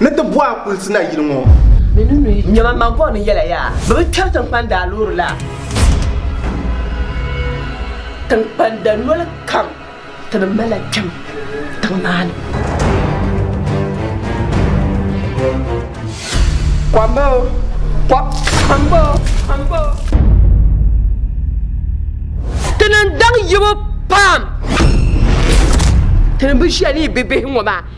ni ti bɔh a kulisi na yili ŋɔ. Nyama man bɔh ni yɛla yaa bɛ bi kpɛri tinkpan daa loori la. Tinkpan da noli kam ti bi mali la kpɛm tiŋ maa ni. Kɔmba o, kɔmba o, kɔmba o. Ti ni daŋ yibu pam ti ni bi ʒiya ni yi bibihi ŋɔ maa.